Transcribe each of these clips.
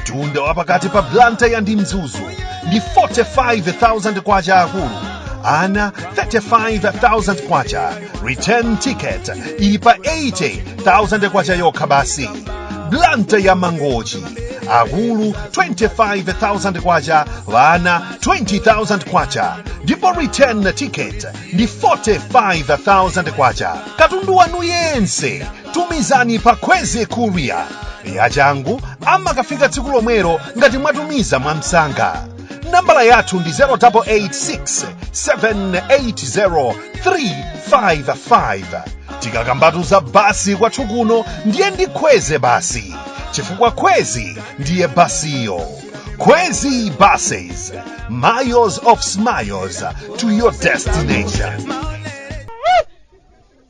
mtunda wa pakati pa blantyre ndi mzuzu ndi 45,000 kwacha akulu ana 35,000 kwacha return ticket ili pa 80,000 kwacha yokha basi blantyre to mangochi akulu 25,000 kwacha vana 20,000 kwacha ndipo return ticket ndi 45,000 kwacha katundu wanu yense tumizani pa kwezi courier yachangu amakafika tsiku lomwelo ngati mwatumiza mwamsanga nambala yathu ndi 0886 780 355 tikakambatu za basi kwathu kuno ndiye ndi kwezi basi chifukwa kwezi ndiye basiyo kwezi buses miles of smiles to your destination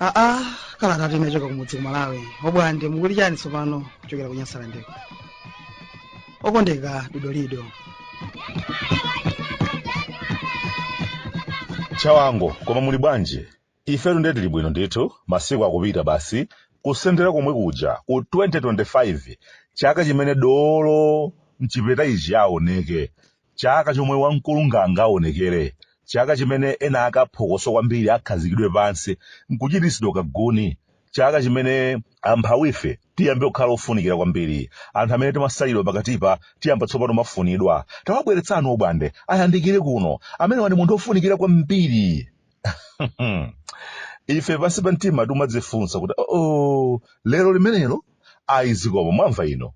aa kalata yochoka kumudzi ku malawi obwande mukuli chani tsopano kuchokera ku nyasalandeko okondeka dodolido chawanga koma muli bwanji Ifetu nde tili bwino ndithu, masiku akupita basi, kusendera komwe kuja ku 2025, chaka chimene dolo m'chipeta ichi aoneke, chaka chomwe wamkulu ndani aonekere, chaka chimene ena ake aphokoso kwambiri akhazikidwe pansi n'kuchititsidwa kaguni, chaka chimene amphawife tiyambe kukhala ofunikira kwambiri, anthu amene timasalidwa pakatipa tiyamba tsopano kumafunidwa. Tawabweretsani obwande ayandikire kuno, amenewa ndi munthu wofunikira kwambiri. ife pansi pa mtima timadzifunsa kuti oo lero limenelo ayi zikoma mwamva ino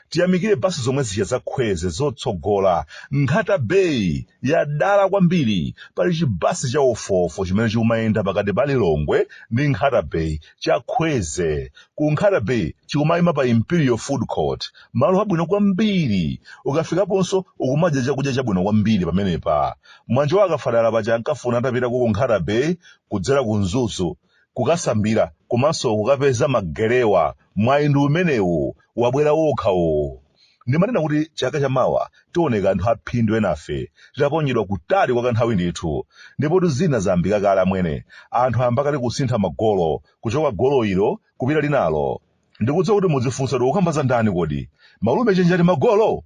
tiyamikire basi zomwe zija za khwezi zotsogola nkhata bay yadala kwambiri pali chibasi cha ofofo chimene chikumayenda pakati pa lilongwe ndi nkhata bay cha khwezi ku nkhata bay chikumayima pa imperial food court malo abwino kwambiri ukafikaponso ukumadya chakudya chabwino kwambiri pamenepa Mwanjo akafadala paja ankafuna atapita ku Nkhata Bay kudzera ku Mzuzu kukasambira komanso kukapeza ma gelewa. Mwayi ndi umenewu, wabwera wokha uwu. Ndimanena kuti chaka chamawa tioneka anthu aphindu enafe titaponyedwa kutali kwa kanthawi ndithu. Ndipotu zina zayambika kale amwene. Anthu ayamba kale kusintha magolo, kuchoka golo ilo kupita linalo. Ndikudziwa kuti mudzifunsa kuti ukukamba za ndani kodi? Malume Chenjagolo Magolo?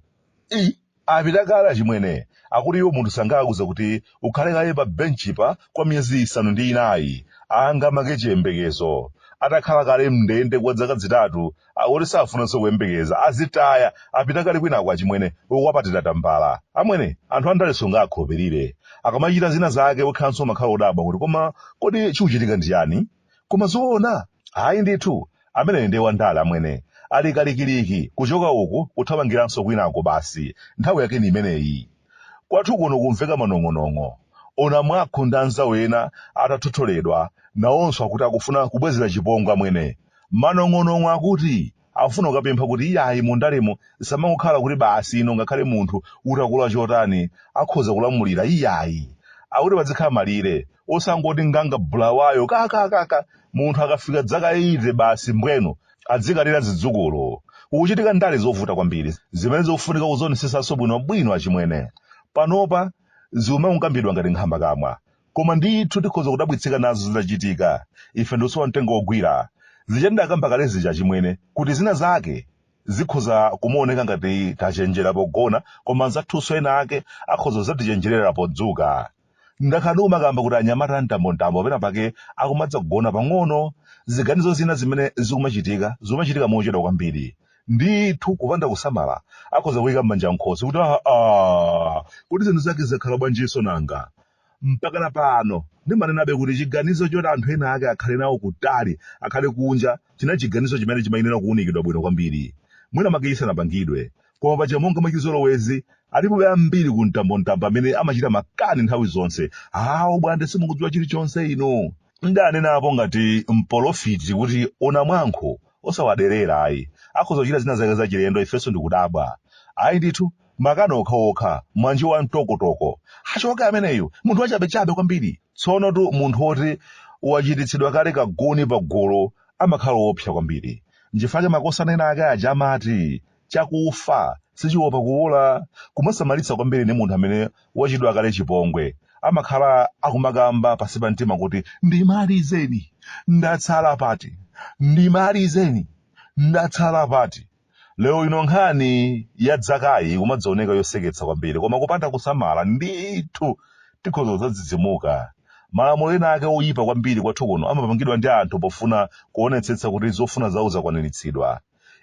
i apita kale achimwene akuti iwo munthu sangawauze kuti ukhale kaye pa benchipa kwa miyezi isanu ndi inayi ngati make chiyembekezo atakhala kale mndende kwa zaka zitatu akuti safunanso kuyembekeza azitaya apita kale kwinako achimwene akwapatira tambala amwene anthu andale sungakhulupirire akamachita zina zake wekhanso umakhala odabwa kuti koma kodi chikuchitika ndi chani Koma zoona? Ayi ndithu, ameneyo ndiye wandale amwene. Ali kalikiliki, kuchoka uku kuthamangiranso kwinako basi, nthawi yake ndi imeneyi. Kwathu kuno kumveka manong'onong'o. Onamwankho ndi anzawo ena atathotholedwa, nawonso akuti akufuna kubwezera chipongwe amwene. Manong'onong'o akuti! Akufuna kukapempha kuti iyayi mu ndalemu zisamangokhala kuti basi ino ngakhale munthu utakula chotani akhoza kulamulira iyayi. Akuti padzikhala malire. Osangoti nganga Bulawayo ka ka ka ka munthu akafika dzaka 80 basi mbwenu adzikalira zidzukulu. Kukuchitika ndale zovuta kwambiri zimene zikufunika kuzionesetsanso bwinobwino achimwene. Panopa zikumangokambidwa ngati nkhambakamwa. Koma ndithu tikhoza kudzadabwitsika nazo zitachitika, ife ndikusowa mtengo wogwira. Zija ndidakamba kale zija achimwene, kuti zina zake zikhoza kumaoneka ngati tachenjera pogona koma anzathunso ena ake akhoza kuzatichenjerera podzuka. Ndakhala ndikumakamba kuti anyamata a mtambontambo pena pake akumadza kugona pang'ono. Ziganizo zina zimene zikumachitika, zikumachitika mochedwa kwambiri. Ndithu kupanda kusamala akhoza kuyika manja m'khosi kuti aa kodi zinthu zake zakhala bwanjinso nanga? Mpakana pano, ndimanenabe kuti chiganizo choti anthu ena ake akhale nawo kutali, akhale kunja, chinali chiganizo chimene chimayenera kuunikidwa bwino kwambiri, mwinamwake chisanapangidwe. Koma paja monga mwa chizolowezi, alipobe ambiri ku mtambontambo amene amachita makani nthawi zonse, Aa, a Bwande simukudziwa chilichonse inu! Ndaanenapo ngati mpolofiti kuti onamwankho osawaderera ayi, akhoza kuchita zina zake zachilendo ifenso ndikudabwa. Ayi ndithu, makani okhaokha mwanji wa mtokotoko achoke ameneyu munthu wachabechabe kwambiri tsonotu munthu woti wachititsidwa kale kaguni pagulu amakhala woopsa kwambiri nchifukwa makosana ena ake aja amati chakufa sichiopa kuwola kumasamalitsa kwambiri ndi munthu amene wachitidwa kale chipongwe amakhala akumakamba pansi pa mtima kuti ndimalizeni ndatsala pati ndimalizeni ndatsala pati Lero ino nkhani ya dzakayi ikumadzaoneka yoseketsa kwambiri koma kupanda kusamala ndithu tikhoza kudzadzidzimuka. Malamulo ena ake oyipa kwambiri kwathu kuno amapangidwa ndi anthu pofuna kuonetsetsa kuti zofuna zawo zakwaniritsidwa.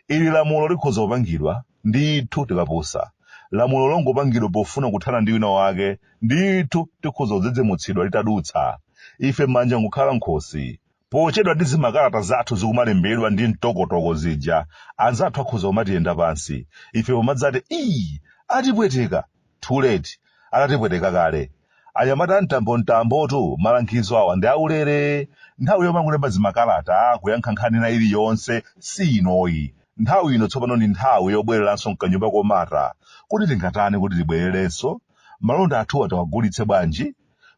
Ili lamulo likhoza kupangidwa ndithu tikapusa. Lamulo longopangidwa pofuna kuthana ndi wina wake ndithu tikhoza kudzidzimutsidwa litadutsa. Ife manja nkukhala m'khosi. Pochedwa ndi zimakalata zathu zikumalembedwa ndi mtokotoko zija, anzathu akhoza kumatiyenda pansi, ife pomadzati, Iii! Atipweteka! Too late, atatipweteka kale. Anyamata a mtambomtambotu, malangizo awa ndi aulere. Nthawi yomangolemba zimakalata, kuyankha nkhani ina iliyonse, si inoyi. Nthawi ino tsopano ndi nthawi yobwereranso m'kanyumba komata. Kodi tingatani kuti tibwererenso? Malonda athuwa tiwagulitse bwanji?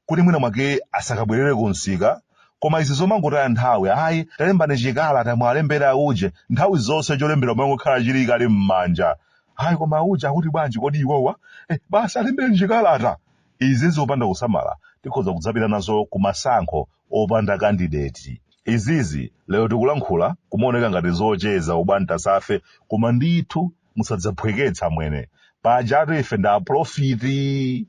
kuti mwina mwake asakabwerere ku msika koma izi zomangotaya nthawi ayi talembani chikalata mwalembera auje nthawi zonse cholembera kumangokhala chili kale m'manja ayi koma auje akuti bwanji kodi iwowa eh, basi alembereni chikalata izi zopanda kusamala tikhoza kudzapita nazo ku masankho opanda kandideti izizi lero tikulankhula kumaoneka ngati zocheza obwantasa ife koma ndithu musadzaphweketsa mwene pajatu ife ndi aprofiti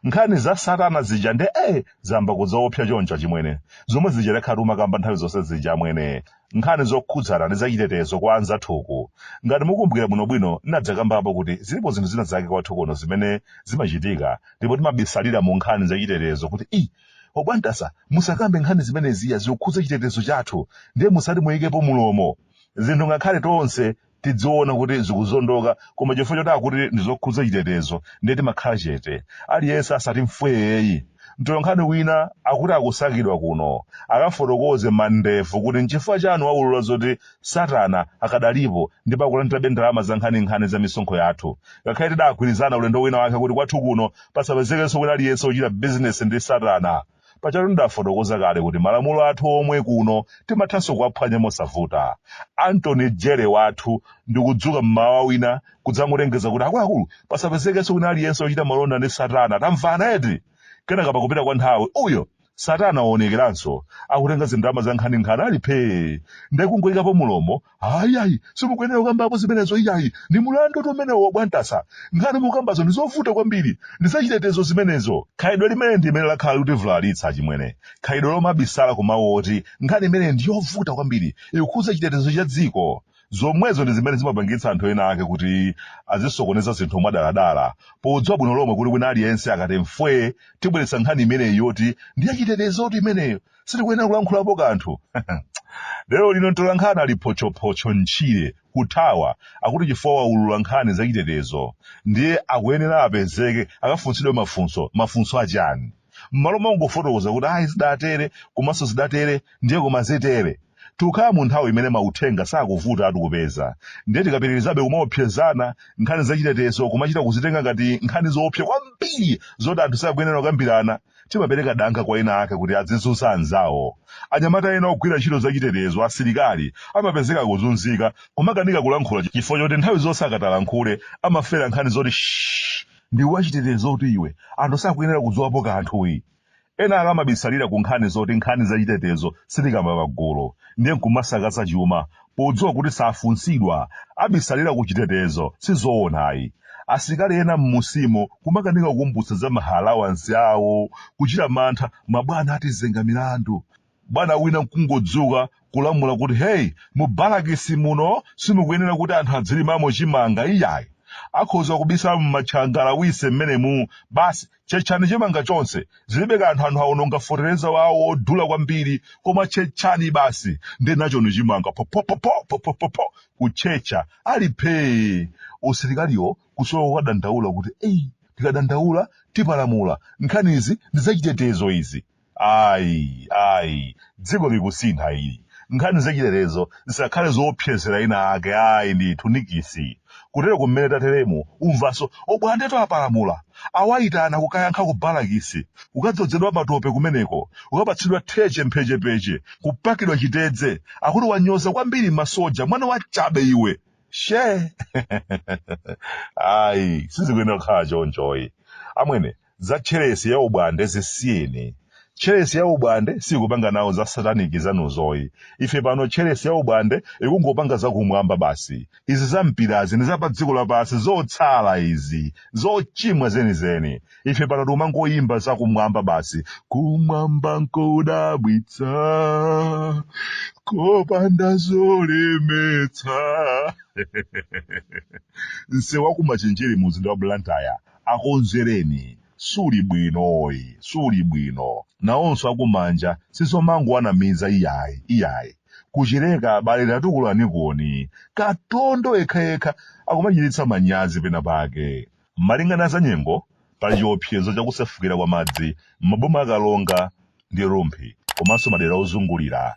nkhani za satana zija nde eh zayamba kudzaopsa choncho achimwene zomwe zija timakhala tikumakamba nthawi zonse zija amwene nkhani zokhudzana ndi zachitetezo kwa anzathuku ngati mukumbukira bwinobwino ndinadzakambapo kuti zilipo zinthu zina zake kwathu kuno zimene zimachitika ndipo timabisalira mu nkhani zachitetezo kuti i obwantasa musakambe nkhani zimeneziya zikukhudza chitetezo chathu ndiye musati muyikepo mulomo zinthu ngakhale tonse tidziona kuti zikuzondoka koma chifukwa choti akuti ndizokhudza chitetezo ndiye timakhala chete aliyense asati mfweyeyi mtolankhani wina akuti akusakidwa kuno akafotokoze mandevu kuti nchifukwa chani waulula zoti satana akadalipo ndipo akulandirabe ndalama za nkhaninkhani za misonkho yathu ngakhale tidagwirizana ulendo wina wake kuti kwathu kuno pasapezekenso wina aliyense ochita bizinesi ndi satana Pajatu ndidafotokoza kale kuti malamulo athu omwe kuno timathanso kuwaphwanya mosavuta. Abwana DG wathu ndikudzuka mmawa wina kudzangolengeza kuti akuluakulu pasapezekenso wina aliyense ochita malonda ndi Satana. Tamvana eti? Kenaka pakupita kwa nthawi uyo Satana waonekeranso akutenga zindalama za nkhaninkhani ali phee nde kungoikapo mulomo ayi ayi simukuyenera kukambapo zimenezo iyayi ndi mulandu wotu umenewo obwantasa nkhani mukambazo ndi zovuta kwambiri ndi zachitetezo zimenezo khalidwe limene ndi limene lakhala likutivulalitsa achimwene khalidwe lomabisala ku mawu oti nkhani imene ndi yovuta kwambiri ikukhudza chitetezo cha dziko zomwezo ndi zimene zimapangitsa anthu ena ake kuti azisokoneza zinthu mwadaladala podziwa bwino lomwe kuti wina aliyense akati mfwe tibweretsa nkhani imeneyi yoti ndi yachitetezotu imeneyo sitikuyenera kulankhulapo kanthu lero lino mtolankhani ali photchophotcho mtchire kuthawa akuti chifukwa waulula nkhani zachitetezo ndiye akuyenera apezeke akafunsidwe mafunso mafunso achani mmalo mongofotokoza kuti ayi zidatere komanso zidatere ndiye koma zitere tikukhala mu nthawi imene mauthenga sakuvuta kuwapeza ndiye tikapitirizabe kumaopsezana nkhani zachitetezo kumachita kuzitenga ngati nkhani zoopsa kwambiri zoti anthu sakuyenera kukambirana timapereka danga kwa ena ake kuti adzizunza anzawo. Anyamata ena ogwira ntchito zachitetezo, asilikali, amapezeka akuzunzika, kumakanika kulankhula chifukwa choti nthawi zonse akati alankhule amafera nkhani zoti shh ndiwe wachitetezotu iwe, anthu sakuyenera kudziwapo kanthuyi. Ena ake amabisalira ku nkhani zoti nkhani zachitetezo sitikamba pagulu, ndiye nkumasakaza chuma, podziwa kuti safunsidwa abisalira ku chitetezo sizoona ayi asilikali ena mmunsimo kumakanika kukumbutsa za maalawansi awo kuchita mantha mabwana atizenga milandu bwana wina nkungodzuka kulamula kuti heyi mu balakisi muno simukuyenera kuti anthu adzilimamo chimanga iyayi akhoza kubisala mumatchangala wise mmenemu basi tchetchani chimanga chonse zilibe kanthu anthu awononga feteleza wawo wodula kwambiri koma tchetchani basi ndi nachoni chimanga popopopopopopopo kutchetcha ali phee usilikaliwo kusowa kukadandaula kuti eyi tikadandaula tipalamula nkhanizi ndi zachitetezo izi ayi ayi dziko likusintha ili nkhani zachitetezo zisakhale zoopsezera ena ake ayi ndithu nikisi kutero kumene tateremu umvanso obwandetu apalamula awayitana kukayankha ku balakisi kukadzozedwa matope kumeneko kukapatsidwa theche mphechepeche kupakidwa chitedze akuti wanyoza kwambiri masoja mwana wa chabe iwe she ayi sizikuyenera kukhala chonchoyi amwene za tchelesi ya obwande zisiyeni tchelesi ya obwande sikupanga nawo za sataniki zanuzoyi ife pano tchelesi ya obwande ikungopanga zakumwamba basi izi za mpirazi ndi za pa dziko lapansi zotsala izi zochimwa zenizeni ife pano tikumangoyimba zakumwamba basi kumwamba nkodabwitsa kopanda zolemetsa nsewu wakumachinjiri mu mzinda wa blantyre akonzereni suli bwinoyi suli bwino nawonso akumanja sizomangowanamiza iyayi iyayi kuchileka abale tatukulanikoni katondo yekhayekha akumachititsa manyazi pena pake malinga na zanyengo pali chiopsezo chakusefukira kwa madzi m'maboma a karonga ndi rumphi komanso madera ozungulira